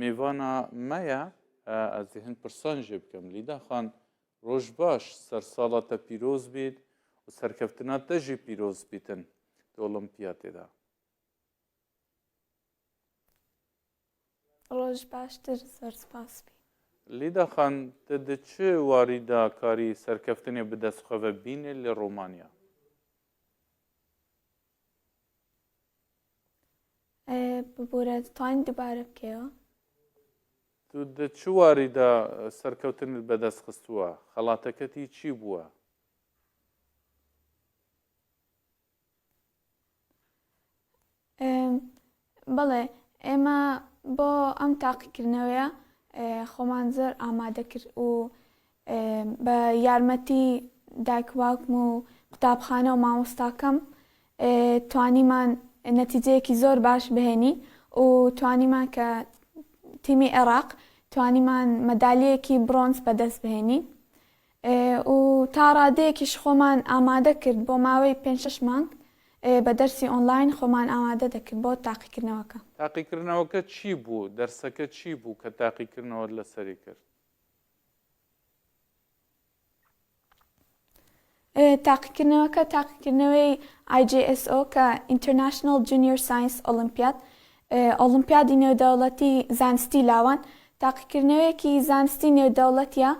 میوانا مەیە ئەزێ هەند پرسان ژێ بکەم لیدا خان ڕۆژ باش سەر ساڵا تە پیرۆز بیت و سەرکەفتنا تە ژی پیرۆز بیتن دە ئۆڵمپیا تێدا. ڕۆژ باشتر زۆر سپاس بی. لیدا خان تە دە چ واریدا کاری سەرکەفتنێ بدەسخەڤە بینێ لە ڕۆمانیا؟ ببورە دەتوانین دووبارە بکەیەوە تو دە چ واریدا سەرکەوتنت بەدەست خستووە خەڵاتەکەتی چی بووە بەڵێ، ئێمە بۆ ئەم تاقیکردنەوەیە خۆمان زۆر ئامادە کرد و بە یارمەتی دایک و باوکم و قوتابخانە و مامۆستاکەم توانیمان نەتیجەیەکی زۆر باش بهێنین و توانیمان کە تیمی عێراق توانیمان مەدالیەکی برۆنز بەدەست بهێنین و تا ڕادەیەکیش خۆمان ئامادە کرد بۆ ماوەی پێنج شەش مانگ بە دەرسی ئۆنلاین خۆمان ئامادە دەکرد بۆ تاقیکردنەوەکە. تاقیکردنەوەکە چی بوو؟ دەرسەکە چی بوو کە تاقیکردنەوەت لەسەری کرد؟ تاقیکردنەوەکە تاقیکردنەوەی IJSO کە International Junior Science Olympiad ئۆڵمپیادی نێودەوڵەتی زانستی لاوان تاقیکردنەوەیەکی زانستی نێودەوڵەتیە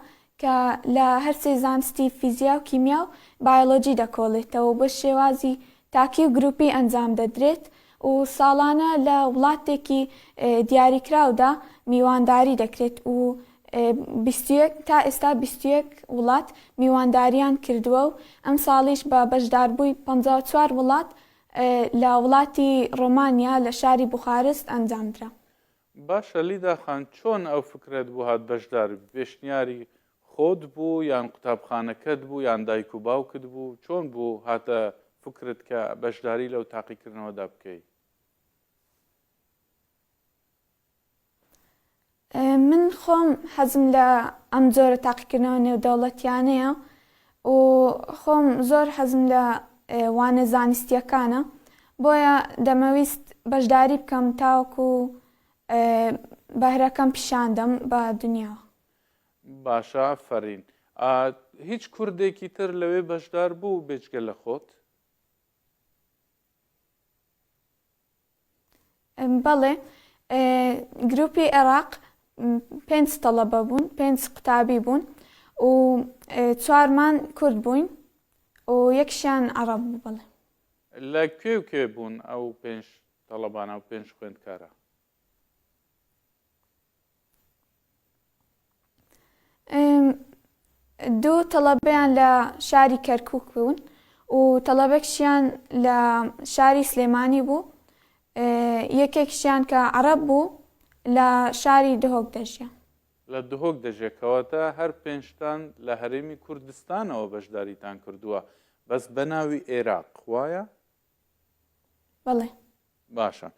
کە لە هەرسێ زانستی فیزیا و کیمیا و بایۆلۆجی دەکۆڵێتەوە و بە شێوازی تاکی و گروپی ئەنجام دەدرێت و ساڵانە لە وڵاتێکی دیاریکراودا میوانداری دەکرێت و بیست و یەک تا ئێستا بیست و یەک وڵات میوانداریان کردووە و ئەمساڵیش بە بەشداربووی پەنجا و چوار وڵات لە وڵاتی ڕۆمانیا لە شاری بوخارست ئەنجامدرا. باشە لیدا خان چۆن ئەو فکرەت بۆ هات بەشداربی پێشنیاری خۆت بوو یان قوتابخانەکەت بوو یان دایک و باوکت بوو چۆن بوو هاتە فکرت کە بەشداری لەو تاقیکردنەوەدا بکەی؟ من خۆم حەزم لە ئەم جۆرە تاقیکردنەوە نێودەوڵەتیانەیە و خۆم زۆر حەزم لە وانە زانستیەکانە بۆیە دەمەویست بەشداری بکەم تاوەکو بەهرەکەم پیشاندەم بە دنیا. باشە ئافەرین ئا هیچ کوردێکی تر لەوێ بەشدار بوو بێجگە لە خۆت؟ بەڵێ گروپی عێراق پێنج تەڵەبە بوون پێنج قوتابی بوون و چوارمان کورد بووین و یەکشیان عرب بوو بەڵێ لە کوێ و کوێ بوون ئەو پێنج تەڵەبانە و پێنج خوێندکارە دوو تەڵەبەیان لە شاری کەرکک بوون و تەڵەبەکشیان لە شاری سلێمانی بوو یەکێکشیان کە عرب بوو لە شاری دهۆک دەژیا لە دهۆک دەژێکەوەتە هەر پێنجتان لە هەرێمی کوردستانەوە بەشداریتان کردووە بەس بەناوی ئێراق وایە؟ بەڵێ باشە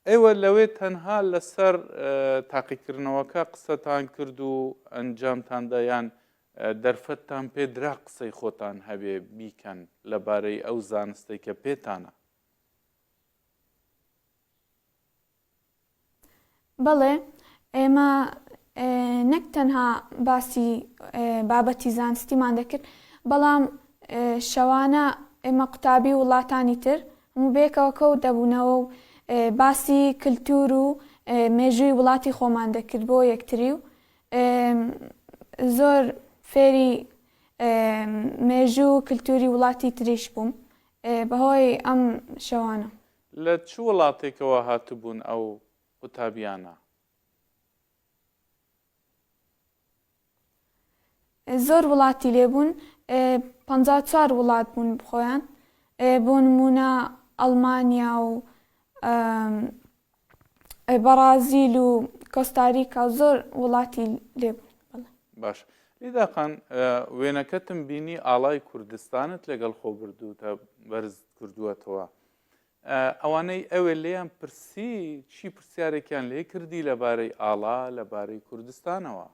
ئێوە لەوێ تەنها لەسەر تاقیکردنەوەکە قسەتان کرد و ئەنجامتان دەیان دەرفەتتان پێ درا قسەی خۆتان هەبێ بیکەن لەبارەی ئەو زانستەی کە پێتانە بەڵێ ئێمە نەک تەنها باسی بابەتی زانستیمان دەکرد بەڵام شەوانە ئێمە قوتابی وڵاتانی تر هەموو بێکەوە کەوت دەبوونەوە و باسی کللتور و مێژووی وڵاتی خۆمان دەکرد بۆ یەکتری و زۆر فێری مێژوو کللتوری وڵاتی تریش بووم بەهۆی ئەم شەوانە لە چ وڵاتێکەوە هاتبوون ئەو قوتابیانە؟ زۆر وڵاتی لێ بوون پەنجا و چوار وڵات بوون بخۆیان بۆ نمونە ئەڵمانیا و بەڕازیل و کۆستاریکا و زۆر وڵاتی لێ بوون بەڵێ. باش لیداقان وێنەکەتم بینی ئاڵای کوردستانت لەگەڵ خۆ بردووتە بەرز کردووەتەوە ئەوانەی ئەوێ لێیان پرسی چی پرسیارێکیان لێ کردی لەبارەی ئاڵا لەبارەی کوردستانەوە؟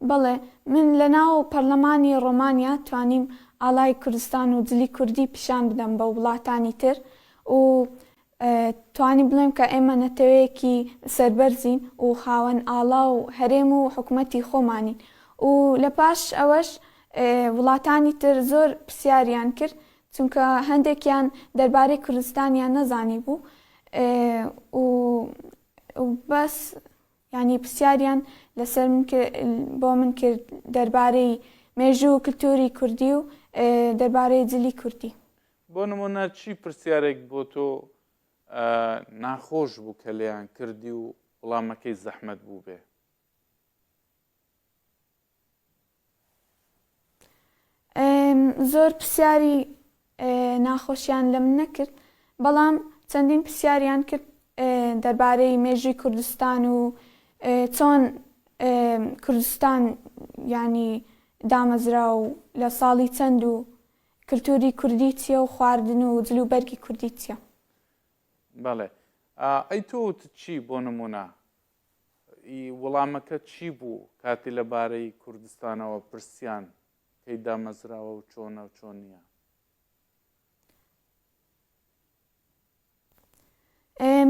بەڵێ من لە ناو پەرلەمانی ڕۆمانیا توانیم ئاڵای کوردستان و جلی کوردی پیشان بدەم بە وڵاتانی تر و توانی بڵێم کە ئێمە نەتەوەیەکی سەربەرزین و خاوەن ئاڵا و هەرێم و حکومەتی خۆمانین و لە پاش ئەوەش وڵاتانی تر زۆر پرسیاریان کرد چونکە هەندێکیان دەربارەی کوردستانیان نەزانیبوو و بەس یانی پرسیاریان لەسەر من کرد بۆ من کرد دەربارەی مێژوو و کلتوری کوردی و دەربارەی جلی کوردی. بۆ نموونە چی پرسیارێک بۆ تۆ ناخۆش بوو کە لێیان کردی و وڵامەکەی زەحمەت بوو بێ؟ زۆر پرسیاری ناخۆشیان لەم نەکرد بەڵام چەندین پرسیاریان کرد دەربارەی مێژووی کوردستان و چۆن کوردستان ینی دامەزرا و لە ساڵی چەند و کلتوری کوردی چیە و خواردن و جل و بەرگی کوردی چیە. بەڵێ ئەی تۆ وتت چی بۆ نمونە؟ ی وڵامەکەت چی بوو کاتی لە بارەی کوردستانەوە پرسیان کەی دامەزراوە و چۆنە و چۆن نیە؟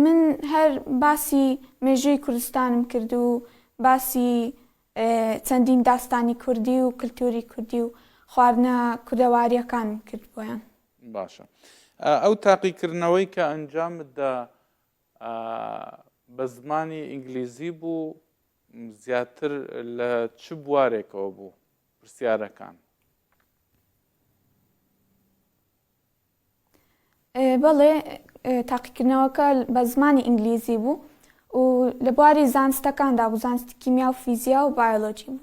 من هەر باسی مێژووی کوردستانم کرد و باسی چەندین داستانی کوردی و کللتوری کوردی و خواردنە کوردەواریەکانم کرد بۆیان باشە ئەو تاقیکردنەوەی کە ئەنجامدا بە زمانی ئینگلیزی بوو زیاتر لە چ بوارێکەوە بوو پرسیارەکان بەڵێ تاقیکردنەوەکە بە زمانی ئینگلیزی بوو و لە بواری زانستەکاندا بوو زانستی کیمیا و فیزیا و بایۆلۆجی بوو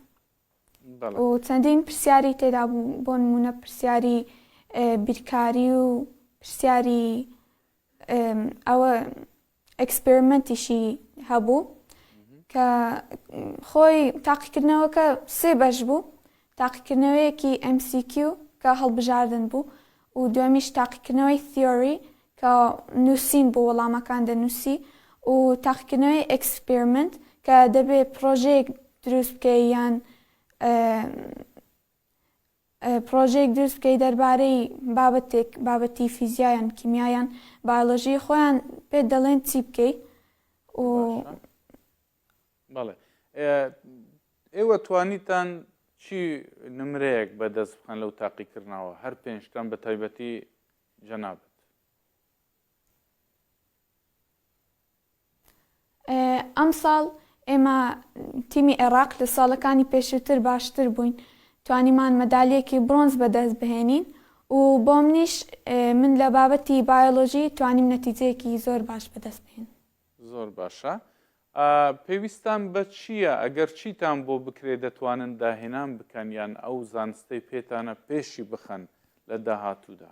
بەڵێ و چەندین پرسیاری تێدا بوو بۆ نمونە پرسیاری ئێ، بیرکاری و پرسیاری ئێم، ئەوە ئێکسپێرمێنتیشی هەبوو کە خۆی تاقیکردنەوەکە سێ بەش بوو تاقیکردنەوەیەکی MCQ کە هەڵبژاردن بوو و دومیش تاقیکردنەوەی تیۆری کە نووسین بۆ وەڵامەکان دەنووسی و تاقیکردنەوەی ئێکسپێرمنت کە دەبێ پڕۆژەیەک دروست بکە یان پڕۆژەیەک دروست بکەی دەربارەی بابەتێک بابەتی فیزیا یان کیمیا یان بایۆلۆژی خۆیان پێت دەڵێن چی بکەی و باشە. بەڵێ ئێ- ئێوە توانیتان چی نمرەیەک بەدەست بخەن لەو تاقیکردنەوە هەر پێنجتان بە تایبەتی جەنابت؟ ئەمساڵ ئێمە تیمی عێراق لە ساڵەکانی پێشووتر باشتر بووین توانیمان مەدالیەکی برۆنز بەدەست بهێنین و بۆ منیش من لە بابەتی بایۆلۆژی توانیم نەتیجەیەکی زۆر باش بەدەست بهێن زۆر باشە پێویستان بە چییە ئەگەر چیتان بۆ بکرێت دەتوانن داهێنان بکەن یان ئەو زانستەی پێتانە پێشی بخەن لە داهاتوودا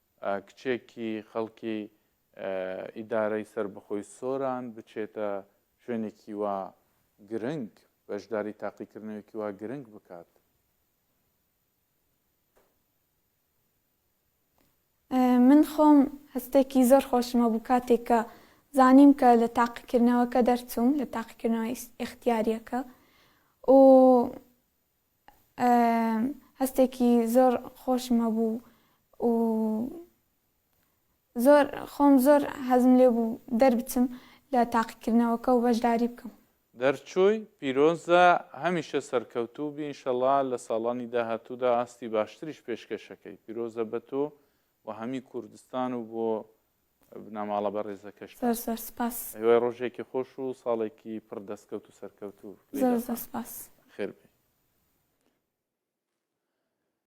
کچێکی خەڵکی ئیدارەی سەربەخۆی سۆران بچێتە شوێنێکی وا گرنگ، بەشداری تاقیکردنەوەیەکی وا گرنگ بکات. من خۆم هەستێکی زۆر خۆشم هەبوو کاتێک کە زانیم کە لە تاقیکردنەوەکە دەرچووم، لە تاقیکردنەوە ئیختیارییەکە و هەستێکی زۆر خۆشم هەبوو و زۆر خۆم زۆر حەزم لێ بوو دەربچم لە تاقیکردنەوەکە و بەشداری بکەم. دەرچووی پیرۆزە هەمیشە سەرکەوتوو بی انشەڵا لە ساڵانی داهاتوودا ئاستی باشتریش پێشکەشەکەی پیرۆزە بە تۆ و هەمی کوردستان و بۆ بنەماڵە بەڕێزەکەشتان. زۆر زۆر سپاس. هیوای ڕۆژێکی خۆش و ساڵێکی پڕ دەستکەوت و سەرکەوتوو. زۆر زۆر سپاس. بەخێربێی.